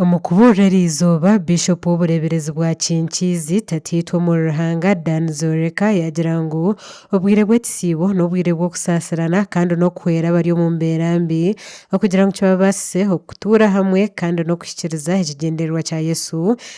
Omu kubuurira eri izooba, Bishop w'obureeberezi bwa Kinkiizi, Tataitwe omuri Ruhanga, Dan Zoreka yaagira ngu obwire bw'ekisiibo n'obwire bw'okusaasirana kandi n'okuhwera abari omu mbeera mbi okugira ngu kibabaasise okutuura hamwe kandi n'okuhikiiriza ekigyendererwa kya Yesu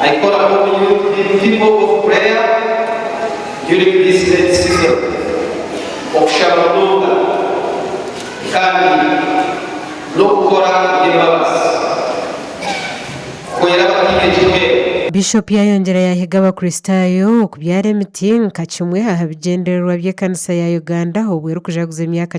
Aikoraho omuri Youth Team People of Prayer during this Lent season, okushaba munonga kandi n'okukora eby'embabazi kuhwera abataine ekihwera. Bishop yayongyera yahiga Abakristaayo okubyara emiti nka kimwe aha bigyendererwa by'ekanisa ya Uganda obu erikujaguza emyaka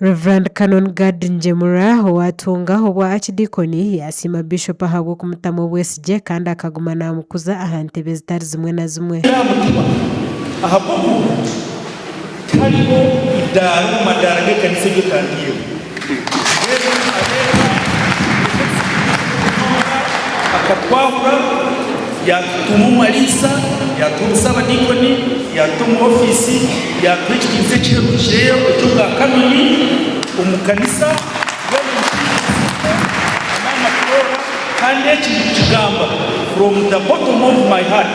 Rev. Canon Gad Ngyemura owaatunga obwa Akidiikoni yaasiima Bishop ahabw'okumutamu obwesigye kandi akaguma naamukuza aha ntebe zitari zimwe na zimwe. Naamutuma ahabw'okuba ngu tariho idaara omu madaara g'ekanisa ei ekandaireho. Yesu areeba eki ekisingye ky'okutunga akatwahura, yaatutuuma omu mariisa, yaatuha obusaabadiikoni, yaatuta omu ofiisi, yaatuha ekitinisa ekiherukireyo eky'obwa kanoni omu kanisa, mbwenu nikituriza amaani kutoora, kandi eki ndikukigamba from the bottom of my heart.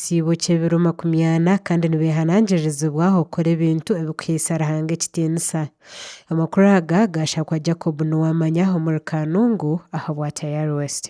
Ekitsibo ky'ebiro makumi ana, kandi nibeehanangiririzibwa okukora ebintu ebirikuhaisa Ruhanga ekitiinisa. Amakuru aga gaashakwa Jacob Nuwamanya omuri Kanungu aha bwa Tayari West.